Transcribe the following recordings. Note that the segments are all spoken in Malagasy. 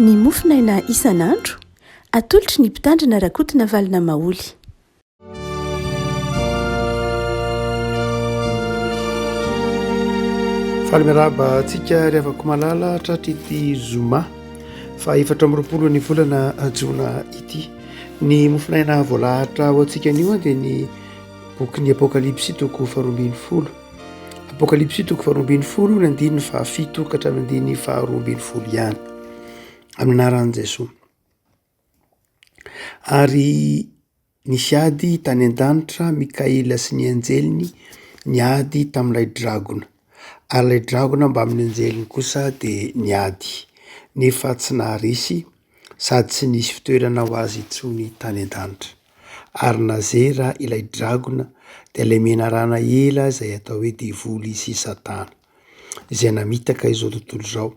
Ny mofonaina isan'andro, atolotry ny mpitandrina Rakotonavalo Namaholy. Faly miarahaba antsika ry havako malala hatratr'ity zoma fa efatra amby roapolo ny volana jona ity. Ny mofonaina voalahatra ho antsika anio dia ny bokin'ny apokalypsy toko faharoa ambin'ny folo. Apokalypsy toko faharoa ambin'ny folo ny andininy fahafito ka hatramin'ny andininy faharoa ambin'ny folo ihany amin'ny anaran'i Jesoa. Ary nisy ady tany an-danitra Mikaela sy ny anjeliny niady tamin'ilay dragona. Ary ilay dragona mbamin'ny anjeliny kosa dia niady nefa tsy naharesy. sady tsy nisy fitoerana ho azy intsony tany an-danitra. Ary nazera ilay dragona, dia ilay menarana ela izay atao hoe devoly sy satana, izay namitaka izao tontolo izao,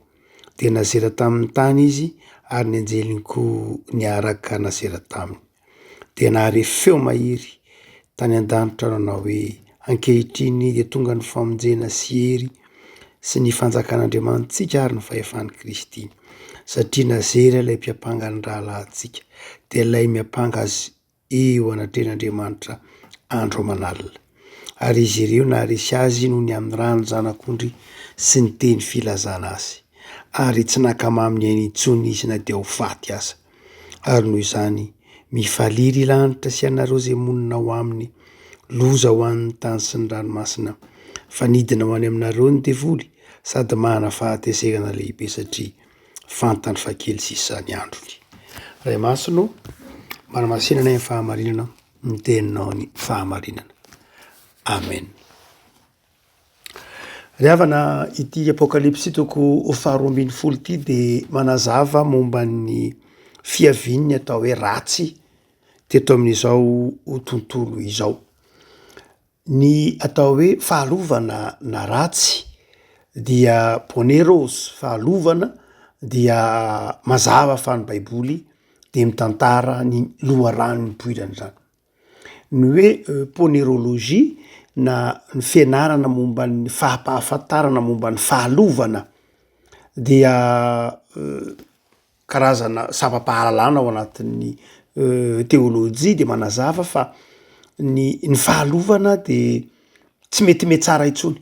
dia nazera tamin'ny tany izy ary ny anjeliny koa niaraka nazera taminy. dia nahare feo mahery tany an-danitra nanao hoe, Ankehitriny dia tonga ny famonjena sy hery sy ny fanjakan'Andriamanitsika ary ny fahefan'i Kristy. Satria nazera ilay mpiampanga ny rahalahintsika, dia ilay miampanga azy eo anatrehan'Andriamanitra andro aman'alina. Ary izy ireo naharesy azy noho ny amin'ny rany zanak'ondry sy ny teny filazana azy. Ary tsy nakamamy ny ainy intsony izy na dia ho faty aza. Ary noho izany, mifalia ry lanitra sy ianareo izay monina ao aminy! Loza ho an'ny tany sy ny ranomasina! Fa nidina ho any aminareo ny devoly sady manana fahatezerana lehibe satria fantany fa kely sisa ny androny. Ray Masina ô, manamasina anay amin'ny fahamarinana ny teninao ny fahamarinana. Amen. Ry havana, ity Apokalypsy toko faharoa ambin'ny folo ity dia manazava momba ny fiavian'ny atao hoe ratsy teto amin'izao tontolo izao. Ny atao hoe fahalovana na ratsy dia poneros, fahalovana, dia mazava fa ny Baiboly dia mitantara ny loharanon'ny poiran'izany. Ny hoe ponerology na ny fianarana momba ny fahampahafantarana momba ny fahalovana dia karazana sampam-pahalalana ao anatin'ny teolojia dia manazava fa ny ny fahalovana dia tsy mety metsara intsony.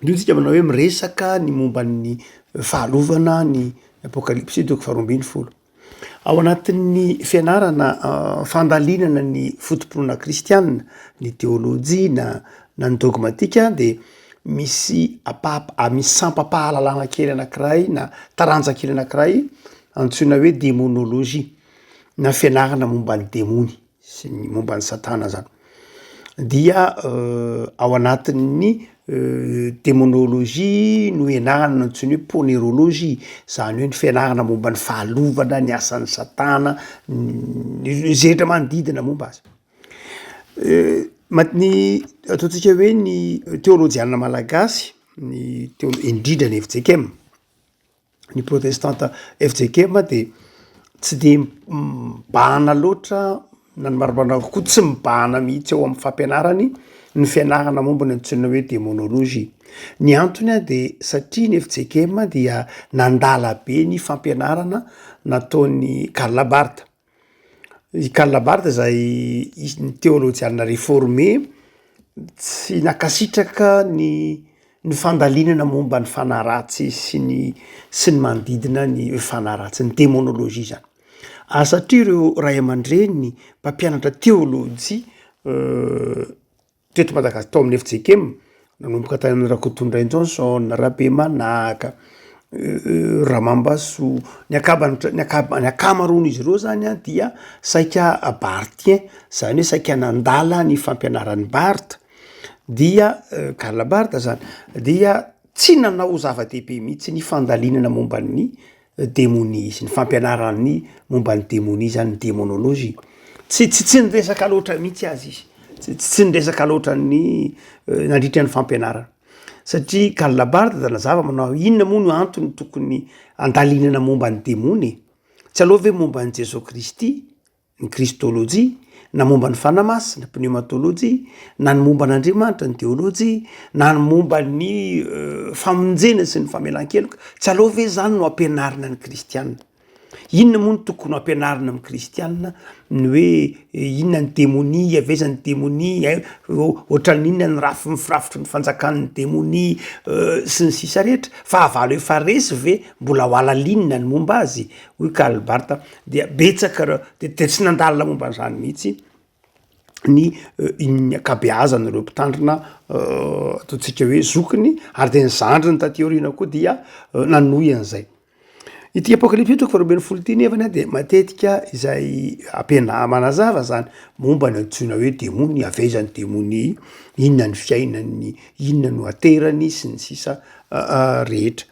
Indreo tsika manao hoe miresaka ny momba ny fahalovana ny apokalypsy toko faharoambin'ny folo. Ao anatin'ny fianarana fandalinana ny fotompinoana kristianina, ny teolojia na na ny dogmatika dia misy apa- ah, misy sampam-pahalalana kely anankiray na taranja kely anankiray antsoina hoe demonolojia na fianarana momba ny demony. sy ny momba an'i Satana zany dia ao anatin'ny demonologie no ianarana no antsoina hoe ponerologie zany hoe ny fianarana momba ny fahalovana ny asan'ny Satana izay rehetra manodidina momba azy ny ataontsika hoe ny teolojiana malagasy ny teo indrindra ny FJKM ny protestanta fjkm dia tsy dia mibahana loatra na ny marimbavana koa tsy mibahana mihitsy ao amin'ny fampianarany ny fianarana momba ny antsoina hoe demonologie ny antony ahy dia satria ny fjkm dia nandala be ny fampianarana nataon'ny karlabarta I Karl Barth izay isan'ny teolojiana reforme tsy nankasitraka ny ny fandalinana momba ny fanahy ratsy sy ny sy ny manodidina ny hoe fanahy ratsy, ny démonologie izany. Ary satria ireo ray aman-dreniny mpampianatra teolojia Teto Madagascar tao amin'ny fjkm nanomboka tany amin'ny Rakotondray Johnson, Rabemanaka, Ramambasoa, ny akabany ny akabany ny akamaroan'izy ireo zany a dia saika barthiens zany hoe saika nandala ny fampianaran'i Barth dia Karl Barth zany dia tsy nanao zava-dehibe mihitsy ny fandalinana momba ny demonia izy, ny fampianarany momba ny demonia zany, ny demonology, tsy tsy tsy niresaka loatra mihitsy azy izy, tsy tsy tsy niresaka loatra ny nandritra ny fampianarana satria Karl Labarthe dia nazava manao hoe inona moa no antony tokony handalinana momba ny demony e? tsy aleo ve momba an'i Jesoa Kristy ny kristôlôjia, na momba ny Fanahy Masina, pneumatôlôjia, na ny momba an'Andriamanitra, ny teôlôjia, na ny momba ny famonjena sy ny famelan-keloka. Tsy aleo ve izany no ampianarina ny kristiana? Inona moa no tokony ho ampianarina amin'ny kristiana? Ny hoe inona ny demonia, avy aiza ny demonia, ohatran'ny inona ny rafy ny firafitry ny fanjakan'ny demonia, sy ny sisa rehetra. Fahavalo efa resy ve mbola ho halalinina ny momba azy? hoy Karl Barth. dia betsaka reo de de tsy nandalina momba an'izany mihitsy ny ny ankabeazany reo mpitandrina ataontsika hoe zokiny ary de ny zandriny taty aoriana koa dia nanohy an'izay ity apokalipsy io toko faharoa ambin'ny folo ity nefany a de matetika izay ampiana- manazava zany momba ny antsoina hoe demony avy aiza ny demony inona ny fiainany inona no aterany sy ny sisa rehetra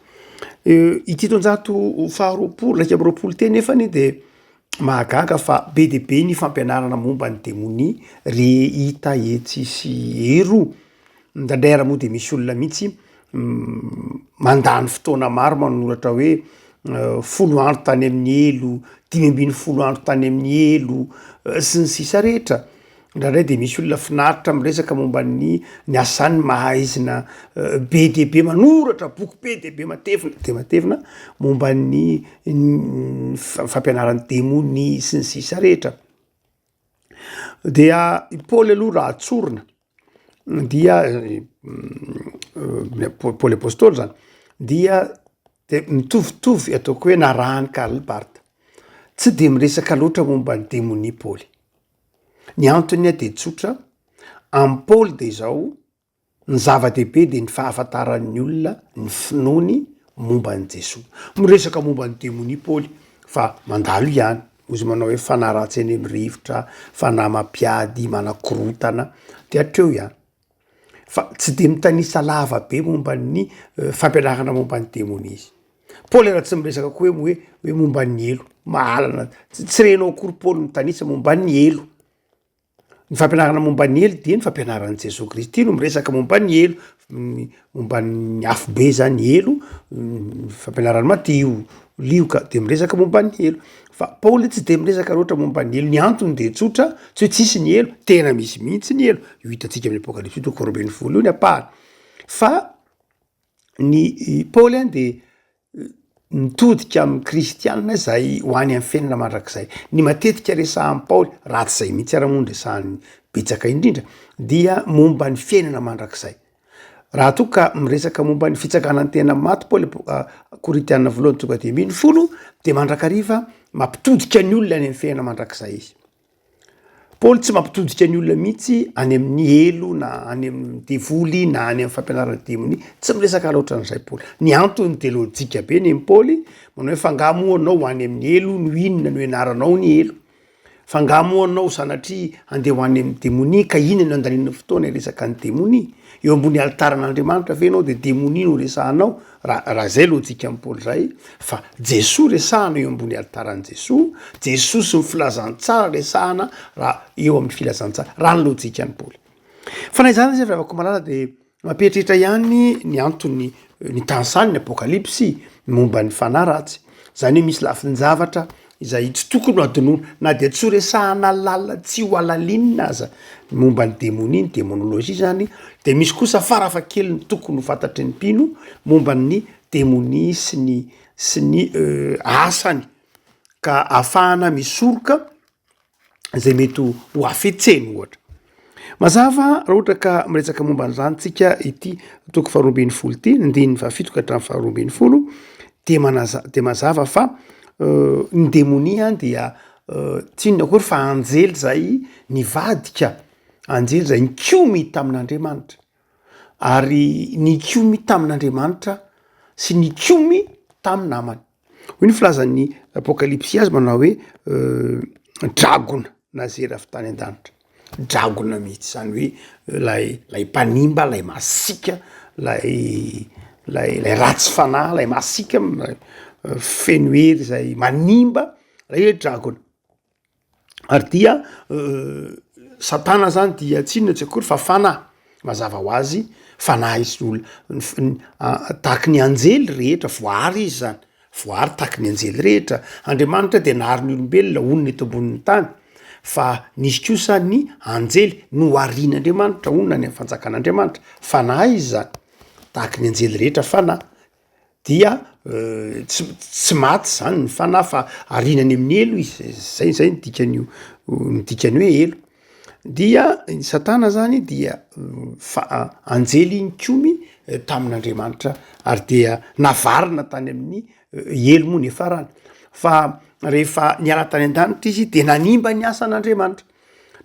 Ity taonjato faharoapolo iraika amby roapolo ity anefa anie dia mahagaga fa be dia be ny fampianarana momba ny demonia re hita etsy sy eroa. Indraindray ary moa dia misy olona mihitsy mandany fotoana maro manoratra hoe folo andro tany amin'ny helo, dimy ambin'ny folo andro tany amin'ny helo sy ny sisa rehetra. Indraindray dia misy olona finaritra miresaka momba ny ny asany mahaizina be dia be manoratra boky be dia be matevina dia matevina momba ny fampianaran'ny demony sy ny sisa rehetra dia i paoly aloha raha tsorina dia paoly apôstôly zany dia de mitovitovy ataoko hoe narahan'i karl barth tsy de miresaka loatra momba ny demonia paoly Ny antony ahy dia tsotra, amin'i Paoly dia izao, ny zava-dehibe dia ny fahafantaran'ny olona ny finoany momba an'i Jesoa. Miresaka momba ny demonia Paoly fa mandalo ihany, hoy izy manao hoe fanahy ratsy eny amin'ny rivotra, fanahy mampiady, manakorontana, dia hatreo ihany. fa tsy dia mitanisa lava be momba ny fampianarana momba ny demonia izy. Paoly ara tsy miresaka koa hoe hoe hoe momba ny helo, mahalana tsy renao akory Paoly mitanisa momba ny helo. Ny fampianarana momba ny helo dia ny fampianaran'i Jesoa Kristy no miresaka momba ny helo. Momba ny afobe zany helo, ny fampianarany maty io lioka de miresaka momba ny helo. Fa Paoly tsy de miresaka loatra momba ny helo, ny antony de tsotra, tsy hoe tsisy ny helo, tena misy mihitsy ny helo, io hitantsika amin'ny Apokalypsy io toko faharoa ambin'ny folo io ny ampahany. Fa ny Paoly an de mitodika amin'ny kristianina izay ho any amin'ny fiainana mandrakizay. Ny matetika resahan'i Paoly, raha tsy izay mihitsy ara moa ny resahan'ny betsaka indrindra, dia momba ny fiainana mandrakizay. Raha toa ka miresaka momba ny fitsakana ny tena maty Paoly ah, Korintiana voalohany tonga dimy ambin'ny folo, dia mandrakariva mampitodika ny olona any amin'ny fiainana mandrakizay izy. Paoly tsy mampitodika ny olona mihitsy any amin'ny helo na any amin'ny devoly na any amin'ny fampianaran'ny demonia. Tsy miresaka loatra an'izay Paoly. Ny antony dia lojika be ny Paoly manao hoe f'angaha moa anao any amin'ny helo no inona no ianaranao ny helo? F'angaha moa anao sanatria handeha ho any amin'ny demonia ka inona no andanianao fotoana hiresaka ny demonia? Eo ambony alitaran'Andriamanitra ve ianao dia demonia no resahanao? Raha raha izay lojikan'i Paoly izay fa Jesoa resahana eo ambony alitaran'i Jesoa, Jesoa sy ny filazantsara resahana raha eo amin'ny filazantsara, raha ny lojikan'i Paoly. Fa na izany aza ry havako malala dia mampieritreritra ihany ny antony ny tany saha ny Apokalypsy momba ny fanahy ratsy. Izany hoe misy lafin-javatra izay tsy tokony ho adinoina na dia tsy ho resahana lalina tsy ho alalinina aza ny momba ny demonia ny demonolojia izany dia misy kosa farafakely ny tokony ho fantatry ny mpino momba ny demonia sy ny sy ny asany ka afahana misoroka izay mety ho afetseny ohatra. Mazava raha ohatra ka miresaka momba an'izany tsika ity toko faharoambin'ny folo ity ny ndininy fahafito ka hatramin'ny faharoambin'ny folo dia manaza dia mazava fa euh, ny demonia dia euh, tsinona akory fa anjely zay nivadika anjely zay nikomy tamin'Andriamanitra ary nikomy tamin'Andriamanitra sy nikomy tamin'ny namany. Hoy ny filazan'ny Apokalypsy azy manao hoe dragona na zery avy tany an-danitra. Dragona mihitsy zany hoe lay lay mpanimba lay masiaka lay lay lay ratsy fanahy lay masiaka feno hery zay manimba lay hoe dragona. Ary dia satana zany dia tsy inona tsy akory fa fanahy, mazava ho azy fanahy izy olo tahaky ny anjely rehetra voahary izy zany, voahary tahaky ny anjely rehetra, Andriamanitra dia nahary ny olombelona honina eto ambonin'ny tany fa nisy kosa ny anjely noharin'Andriamanitra honina any amin'ny fanjakan'Andriamanitra, fanahy izy zany, tahaky ny anjely rehetra fanahy. dia tsy tsy maty zany ny fanahy fa ariana any amin'ny helo izy zay zay ny dikan'io ny dikany hoe helo dia ny satana zany dia fa anjely iny komy tamin'andriamanitra ary dia navarina tany amin'ny helo moa ny farany fa rehefa niala tany an-danitra izy dia nanimba ny asan'andriamanitra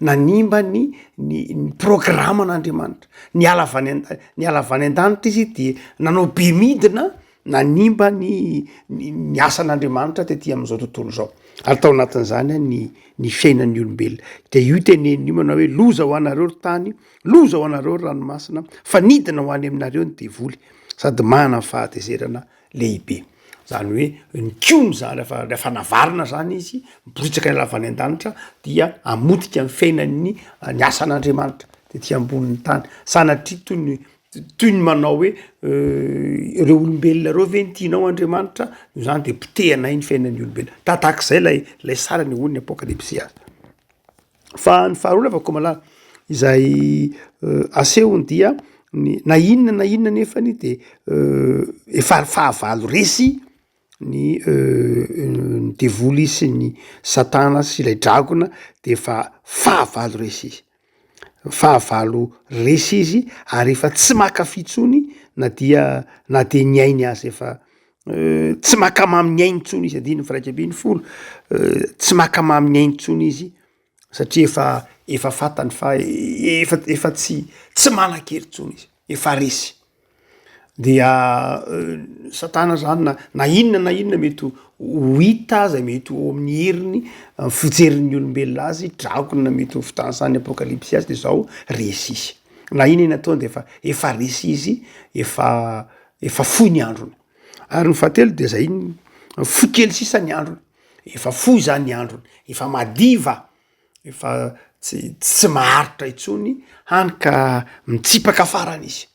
nanimba ny ny ny programan'Andriamanitra, niala avy any an-tany, niala avy any an-danitra izy de nanao be midina nanimba ny ny ny asan'Andriamanitra tety am'zao tontolo zao, ary tao anatin'zany a ny ny fiainan'ny olombelona, de io teneniny io manao hoe loza ho anareo ry tany, loza ho anareo ry ranomasina fa nidina ho any aminareo ny devoly sady manana ny fahatezerana. lehibe. Zany hoe ny kiony zany rehefa rehefa navarina zany izy miporitsaka any lavany an-danitra dia hamotika ny fiainan'ny ny asan'Andriamanitra tety ambonin'ny tany. Sanatria toy ny toy ny manao hoe ireo olombelona ireo ve no tianao Andriamanitra noho izany de potehanay ny fiainan'ny olombelona. Tahak'izay lay lay sary anehoan'ny apokalipsy azy. Fa ny faharoa lava Komala izay asehony dia ny na inona na inona nefany de efa ary fahavalo resy ny ny devoly sy ny satana sy ilay dragona de efa fahavalo resy izy fahavalo resy izy ary efa tsy maka fitsony na dia na de ny ainy azy efa tsy maka mamin'ny ainy intsony izy andininy firaika ambin'ny folo tsy maka mamin'ny ainy intsony izy satria efa efa fatany fa efa efa tsy tsy manan-kery intsony izy efa resy dia satana zany na na inona na inona mety ho ho hita aza mety ho amin'ny heriny amin'ny fijerin'ny olombelona azy dragona mety ho fitanisan'ny apokalypsy azy de zao resy izy na inona inona ataony de efa efa resy izy efa efa fohy ny androny ary ny fahatelo de zay fohy kely sisa ny androny efa fohy zany ny androny efa madiva efa tsy tsy maharitra intsony hany ka mitsipaka farany izy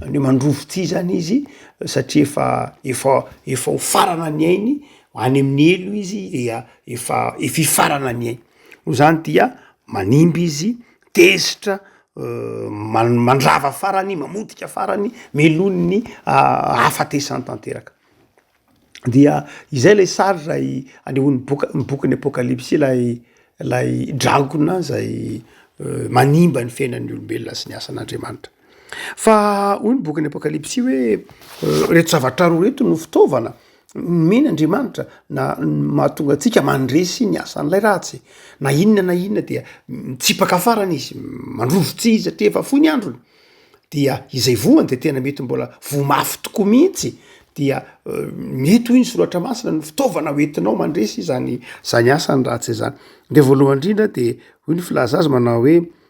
any hoe mandrovo ty zany izy satria efa efa efa ho farana ny ainy any amin'ny helo izy dia efa efa hifarana ny ainy noho zany dia manimba izy tezitra mandrava farany mamotika farany melohiny ahafatesany tanteraka dia izay lay sary zay anehony boka ny boky ny apokalipsy ilay lay dragona zay manimba ny fiainan'ny olombelona sy ny asan'Andriamanitra Fa hoy ny bokin'ny Apokalypsy hoe reto zavatra roa reto no fitaovana nomena Andriamanitra na mahatonga antsika mandresy ny asan'ilay ratsy. Na inona na inona dia mitsipaka farany izy, mandroso tsy izy satria efa fohy ny androny. Dia izay voany dia tena mety mbola voa mafy tokoa mihitsy dia euh, mety hoy ny soratra masina ny fitaovana hoentinao mandresy izany izany asany ratsy izany. Dia voalohany indrindra dia hoy ny filaza azy manao hoe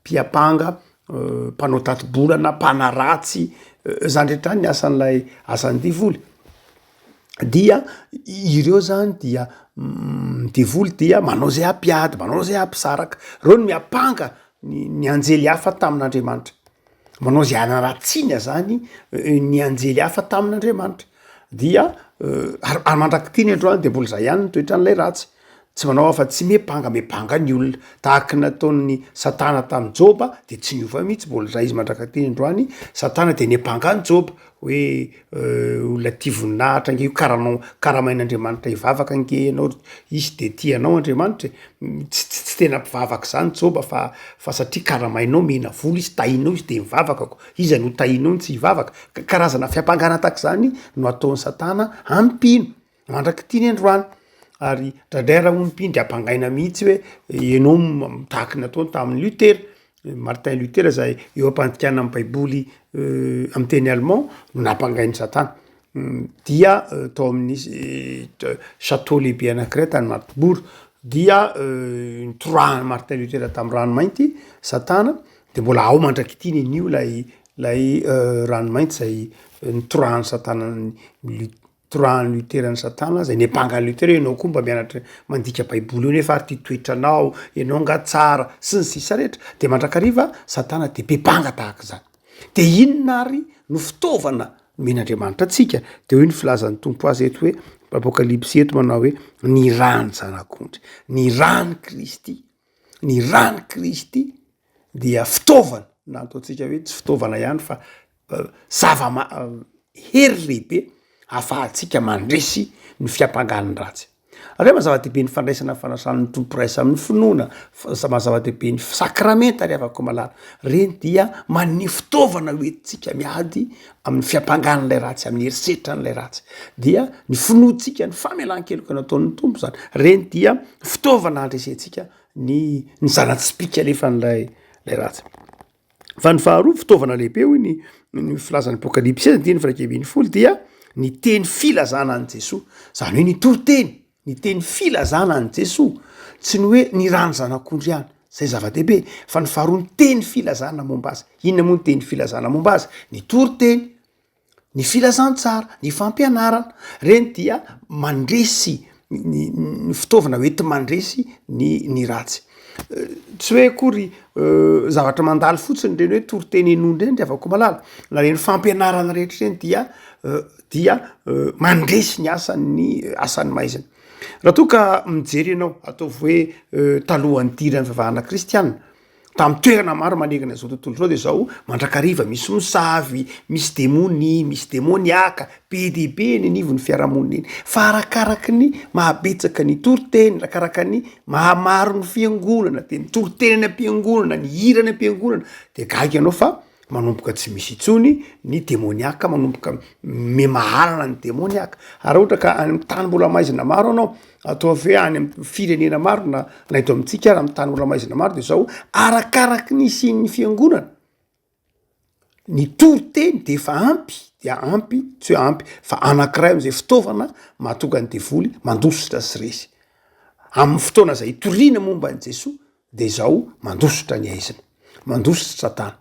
mpiampanga, mpanao tati-bolana, mpanaratsy, zany rehetra ny asan'ilay asan'ny devoly, dia ireo zany dia devoly dia manao zay hampiady, manao zay hampisaraka, reo no miampanga ny anjely hafa tamin'Andriamanitra. manao izay hanaratsiany azany ny anjely hafa tamin'Andriamanitra. Dia ary ary mandrak'ity ny androany dia mbola izay ihany ny toetran'ilay ratsy, tsy manao afa-tsy miampanga miampanga ny olona, tahaka ny nataon'i Satana tamin'i Joba dia tsy niova mihitsy, mbola izay izy mandrak'ity ny androany, Satana dia niampanga an'i Joba, hoe olona tia voninahitra ange io karanao karamain'Andriamanitra hivavaka ange ianao ry hisy de tia anao Andriamanitra e tsy tsy tsy tena mpivavaka zany joba fa fa satria karamainao mihena vola izy tahinao izy de mivavaka ko iza no tahinao no tsy hivavaka ka karazana fiampangana tahak'izany no ataon'i satana ampino mandrak'ity ny androany ary dradray raha onim-py ndry ampangaina mihitsy hoe ianao mitahaky ny nataony tamin'ny Luther, Martin Luther izay eo am-pandikana ny baiboly amin'ny teny allemand no nampangain'i satana dia tao amin'ny chateau lehibe anankiray tany Magdeburg dia nitorahan'i Martin Luther tamin'ny ranomainty satana dia mbola ao mandrak'ity ny anio ilay ilay ranomainty izay nitorahan'i satana an'i Luther. Torahan'i Luther an'i Satana izay niampanga an'i Luther hoe ianao koa mba mianatra mandika Baiboly eo nefa ary ity toetranao, ianao angaha tsara sy ny sisa rehetra. Dia mandrakariva Satana dia be banga tahaka izany. Dia inona ary no fitaovana nomen'Andriamanitra antsika? Dia hoy ny filazan'ny Tompo azy eto hoe Apokalypsy eto manao hoe ny rany zanak'ondry, ny rany Kristy, ny rany Kristy dia fitaovana na ataontsika hoe tsy fitaovana ihany fa zava-ma- hery lehibe hafahantsika mandresy ny fiampangany ratsy avy eo ma zava-dehibe ny fandraisana ny fanasan'ny tomporaisa amin'ny finoana fzama zava-dehibe ny fisakramenta ry avako malala reny dia man'ny fitaovana hoentintsika miady amin'ny fiampangan'ilay ratsy amin'ny herisetra an'ilay ratsy dia ny finoantsika ny famelan-keloka ny ataon'ny tompo zany reny dia fitaovana handresentsika ny ny zana-tsipika nefa an'ilay lay ratsy Fa ny faharoa, fitaovana lehibe hoy ny ny filazan'ny apokalypsy ny teny firaika ambin'ny folo dia ny teny filazana an'i Jesoa. Zany hoe ny toriteny, ny teny filazana an'i Jesoa. Tsy ny hoe ny rà ny zanak'ondry ihany, zay zava-dehibe, fa ny faharoa ny teny filazana momba azy. Inona moa ny teny filazana momba azy? Ny toriteny. Ny filazantsara, ny fampianarana, reny dia mandresy ny fitaovana hoenti-mandresy ny ny ratsy. Tsy hoe akory zavatra mandalo fotsiny reny hoe toriteny henoina reny ry havako-malala, na reny fampianarana rehetra reny dia dia mandresy ny asan'ny asan'ny maizina. Raha toa ka mijery ianao, ataovy hoe talohan'ny nidirany fivavahana kristiana, Tamin'ny toerana maro manerana izao tontolo izao dia izao mandrakariva misy mosavy, misy demony, misy demoniaka be dia be eny anivon'ny fiarahamonina eny. Fa arakaraka ny mahabetsaka ny toriteny, arakaraka ny mahamaro ny fiangonana, dia ny toriteny any am-piangonana, ny hira any am-piangonana dia gaga ianao fa manomboka tsy misy intsony ny demoniaka manomboka memahalana ny demoniaka ary ohatra ka any amin'ny tany mbola maizina maro anao atao ve any am firenena maro na na eto amintsika ara ami'ny tany mbola maizina maro de zao arakaraky ny isian'ny fiangonana ny tory teny de efa ampy dia ampy tsy hoe ampy fa anankiray am'izay fitaovana mahatonga ny devoly mandositra sy resy amin'ny fotoana zay itoriana momba an'i jesoa de izao mandositra ny aizina, mandositra tana,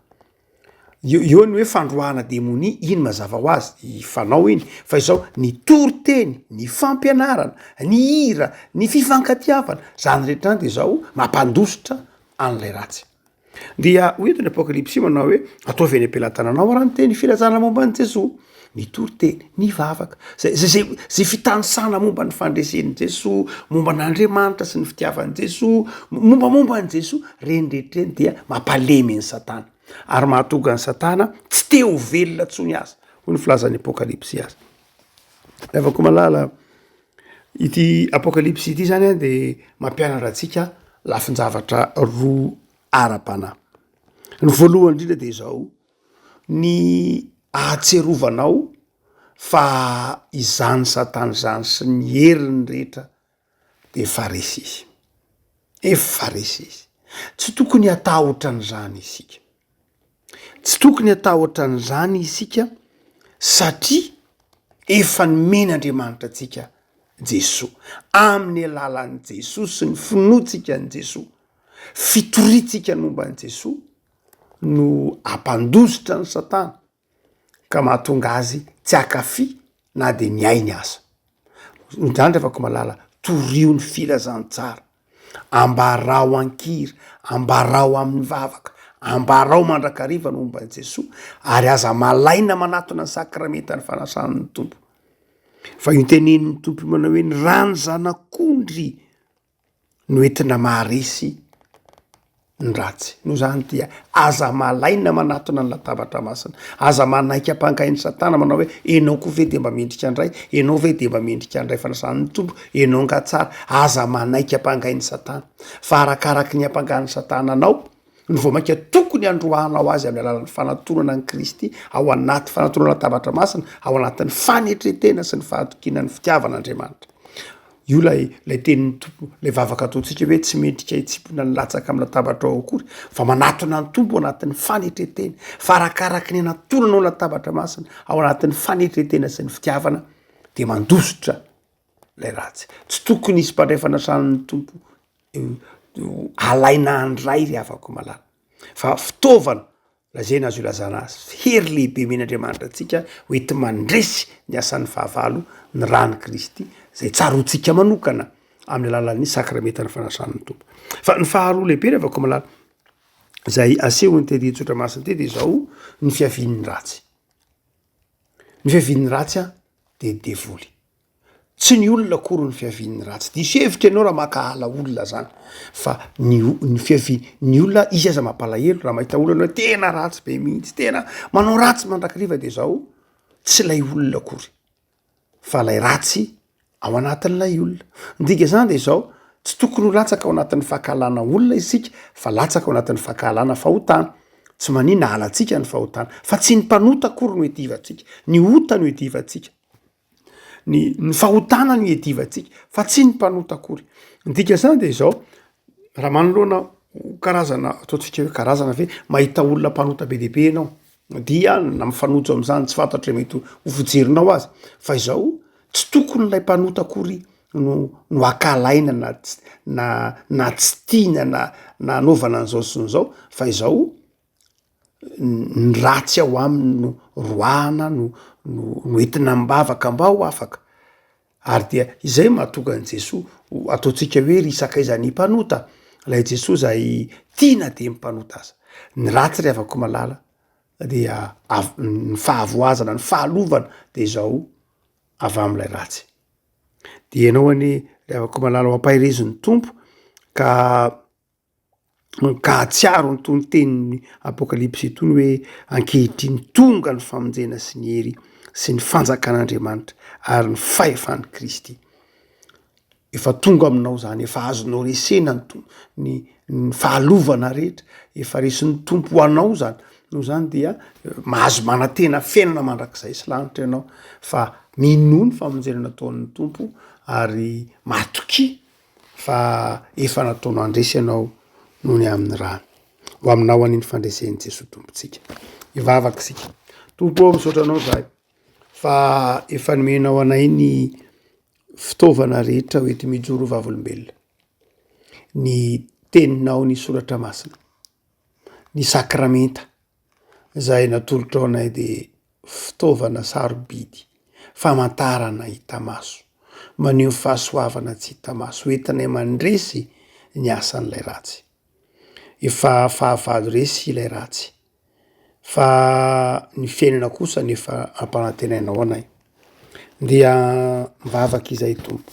eo eo ny hoe fandroahana demonia iny mazava ho azy i fanao iny fa izao ny toriteny, ny fampianarana, ny hira, ny fifankatiavana, zany rehetra zany de izao mampandositra an'ilay ratsy, dia hoy eto ny apokalypsy manao hoe ataovy any am-pelatananao ary ny teny filazana momba an'i Jesoa. mitory teny, mivavaka, zay zay zay zay fitanisana momba ny fandresen'i Jesoa, momba an'Andriamanitra sy ny fitiavan'i Jesoa, mombamomba an'i Jesoa, reny rehetra reny dia mampalemy an'i Satana ary mahatonga an'i Satana tsy te ho velona intsony aza, hoy ny filazan'ny Apokalypsy azy. Raha vao ko malala ity Apokalypsy ity zany de mampianatra antsika lafin-javatra roa ara-panahy. Ny voalohany indrindra dia izao. Ny ahatsierovanao fa izany satana izany sy ny heriny rehetra dia efa resy izy. Efa resy izy. Tsy tokony hatahotra an'izany isika. Tsy tokony hatahotra an'izany isika satria efa nomena Andriamanitra antsika Jesoa. Amin'ny alalan'i Jesoa sy ny finoantsika an'i Jesoa, fitoriantsika momba an'i Jesoa. no ampandositra an'i Satana ka mahatonga azy tsy hankafy na dia ny ainy aza. Izany ry havako malala, toriho ny filazantsara, ambarao an-kira, ambarao amin'ny vavaka, ambarao mandrakariva ny momba an'i Jesoa ary aza malaina manatona ny sakramentan'ny fanasan'ny Tompo. Fa io tenenin'ny Tompo io manao hoe, ny rà ny zanak'ondry. no entina maharesy ny ratsy. Noho izany dia aza malaina manatona ny latabatra masina. Aza manaiky ampangain'i Satana manao hoe ianao koa ve dia mba mendrika handray? Ianao ve dia mba mendrika handray fanasan'ny Tompo? Ianao angaha tsara? Aza manaiky ampangain'i Satana fa arakaraky ny ampangan'i Satana anao no vao mainka tokony handroahanao azy amin'ny alalan'ny fanatonana an'i Kristy ao anaty fanatonana latabatra masina ao anatin'ny fanetretena sy ny fahatokiana ny fitiavan'Andriamanitra. Io lay lay tenin'ny tompo lay vavaka ataontsika hoe tsy mendrika hitsipona ny latsaka amin'ny latabatra ao akory fa manatona ny tompo anatin'ny fanetretena fa arakaraka ny anatonanao latabatra masina ao anatin'ny fanetretena sy ny fitiavana dia mandositra lay ratsy tsy tokony hisy mpandraifanasany ny tompo alaina handray ry havako malala fa fitaovana lazaina azy io lazana azy hery lehibe omen'Andriamanitra antsika hoenti mandresy ny asan'ny fahavalo ny rany kristy zay tsaroantsika manokana amin'ny alalan'ny sakrametan'ny fanasan'ny tompo fa ny faharoa lehibe ry havako malala zay asehon'ny tedi tsotra masiny tey de zao ny fiavian'ny ratsy ny fiavian'ny ratsy a de devoly Tsy ny olona akory no fiavian'ny raha. Tsy diso hevitra ianao raha mankahala olona izany. Fa ny ny fiavian'ny olona, izy aza mampalahelo raha mahita olona hoe tena ratsy be mihitsy, tena manao ratsy mandrakariva dia izao, tsy ilay olona akory fa ilay ratsy ao anatin'ilay olona. Ny dikan'izany dia izao, tsy tokony ho latsaka ao anatin'ny fankahalana olona isika fa latsaka ao anatin'ny fankahalana fahotana. Tsy maninona halantsika ny fahotana fa tsy ny mpanota akory no iadivantsika, ny ota no iadivantsika. ny ny fahotana ny iadivantsika fa tsy ny mpanota akory. Ny dikan'izany dia izao, raha manoloana ho karazana ataontsika hoe karazana ve mahita olona mpanota be dia be ianao dia na mifanojo amin'izany tsy fantatro izay mety ho fijerinao azy fa izao, tsy tokony ilay mpanota akory no no hakalaina na tsy na na tsy tiana na na hanaovana an'izao sy ny izao fa izao ny ratsy ao aminy no roahana no no no entina am-bavaka mba ho afaka, ary dia izay no mahatonga an'i Jesoa ho ataontsika hoe ry sakaiza ny mpanota, ilay Jesoa izay tia na dia ny mpanota aza, ny ratsy ry havako malala dia avy ny fahavoazana ny fahalovana dia izao avy amin'ilay ratsy, dia ianao anie ry havako malala ho ampaherezin'ny Tompo ka. ka hahatsiaro itony tenin'ny Apokalypsy itony hoe ankehitriny tonga ny famonjena sy ny hery sy ny fanjakan'Andriamanitra ary ny fahefan'i Kristy. Efa tonga aminao izany, efa azonao resena ny to- ny ny fahalovana rehetra, efa resin'ny Tompo ho anao izany. Noho izany dia mahazo manantena fiainana mandrakizay sy lanitra ianao fa minoa ny famonjena nataon'ny Tompo ary matokia. fa efa nataonao handresy ianao noho ny amin'ny rany. Ho aminao an'iny fandresen'i Jesoa Tompontsika. Hivavaka isika. Tompo ao, misaotra anao zahay fa efa nomenao anay ny fitaovana rehetra ho ety mijoro ho vavolombelona. Ny teninao, ny soratra masina, ny sakramenta, Izay natolotrao anay dia fitaovana sarobidy, famantarana hita maso, maneho fahasoavana tsy hita maso ho entinay mandresy ny asan'ilay ratsy. Efa fahavalo resy ilay ratsy fa ny fiainana kosa no efa ampanantenainao anay. Dia mivavaka izay Tompo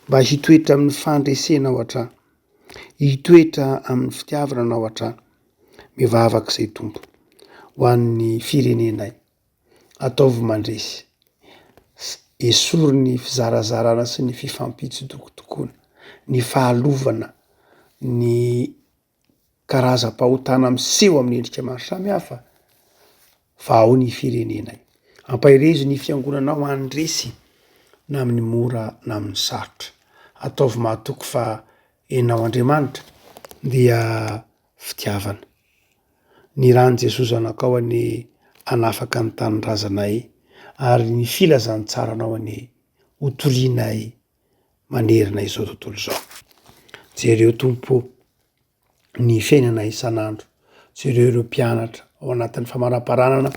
mba hitoetra amin'ny fandresenao hatrany, hitoetra amin'ny fitiavananao hatrany. Mivavaka izay Tompo ho an'ny firenenay. Ataovy mandresy. Esory ny fizarazarana sy ny fifampitsodokodokoana, ny fahalovana, ny karazam-pahotana miseho amin'ny endrika maro samihafa. Fa ao ny firenenay. Ampaherezo ny fiangonanao handresy na amin'ny mora na amin'ny sarotra. Ataovy mahatoky fa Ianao Andriamanitra dia fitiavana. Ny ran'i Jesoa Zanakao anie hanafaka ny tanindrazanay ary ny filazantsaranao anie hotorianay manerana izao tontolo izao. Jereo Tompo o! ny fiainana isan'andro. Jereo ireo mpianatra ao anatin'ny famaramparanana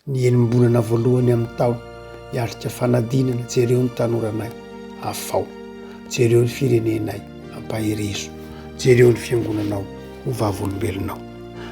ny enim-bolana voalohany amin'ny taona hiatrika fanadinana. Jereo ny tanoranay, afao. Jereo ny firenenay, ampaherezo. Jereo ny fiangonanao, ho vavolombelonao.